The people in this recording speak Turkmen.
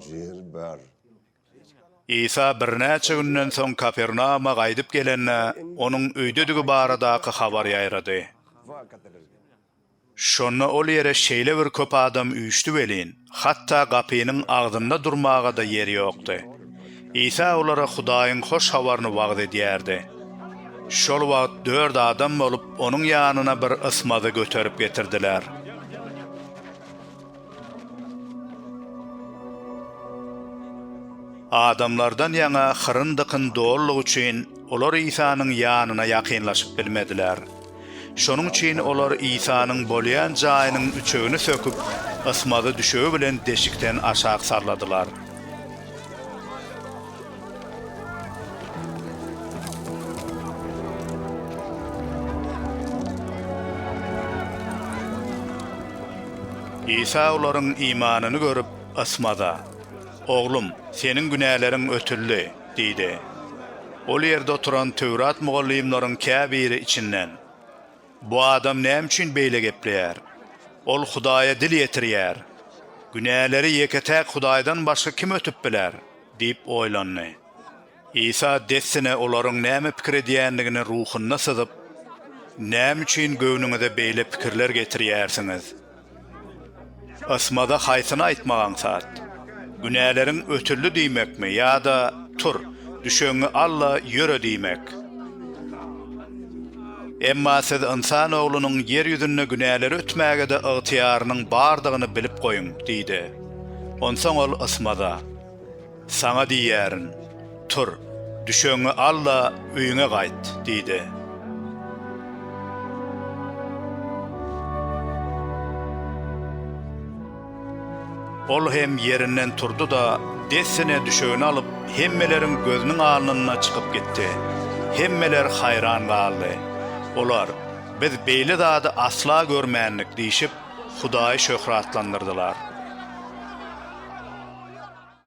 Ýer bar. Isa birnäçe günden soň Kapernauma gaýdyp gelende, onuň öýdedigi baradaky habar ýaýrady. Şonda ol ýere şeýle bir köp adam üýşdi welin, hatda gapynyň agzynda durmaga-da ýer ýokdy. Isa olara Hudaýyň hoş habaryny wagyz edýärdi. Şol wagt dört adam bolup, onuň ýanyna bir ysmazy göterip getirdiler. Adamlardan ýaňa hyryn-dykyn dolandygy üçin, olar Isanyň ýanyna ýakynlaşyp bilmediler. Şonuň üçin olar Isanyň bolýan jaýynyň üçegini söküp, ysmazy düşegi bilen deşikden aşak salladylar. Isa olaryň imanyny görüp, ysmaza, Oglum, seniň günäleriň ötüldi diýdi. Ol ýerde oturan Töwrat mugallymlaryň käbiri içinden, Bu adam näme üçin beýle gepleýär? Ol Hudaýa dil ýetirýär. Günäleri ýeke-täk Hudaýdan başga kim ötüp biler? Diýip oýlandy. Isa dessine olaryň näme pikir edýändigini ruhunda syzyp, Näme üçin göwnüňize beýle pikirler getirýärsiňiz? Ysmaza haýsyny aýtmak aňsat? Günäleriň ötüldi diýmekmi ýa-da Tur, düşegiňi al-da, ýöre diýmek? Emma siz Ynsan Oglunyň ýer ýüzünde günäleri ötmäge-de ygtyýarynyň bardygyny bilip goýuň diýdi. Onsoň ol ysmaza. Saňa diýýärin, tur, düşegiňi al-da, öýüňe gaýt! diýdi. Ol hem ýerinden turdy-da, dessine düşegini alyp, hemmeleriň gözüniň alnynda çykyp gitdi. Hemmeler haýran galdy. Olar, Biz beýle zady asla görmändik diýşip, Hudaýy şöhratlandyrdylar.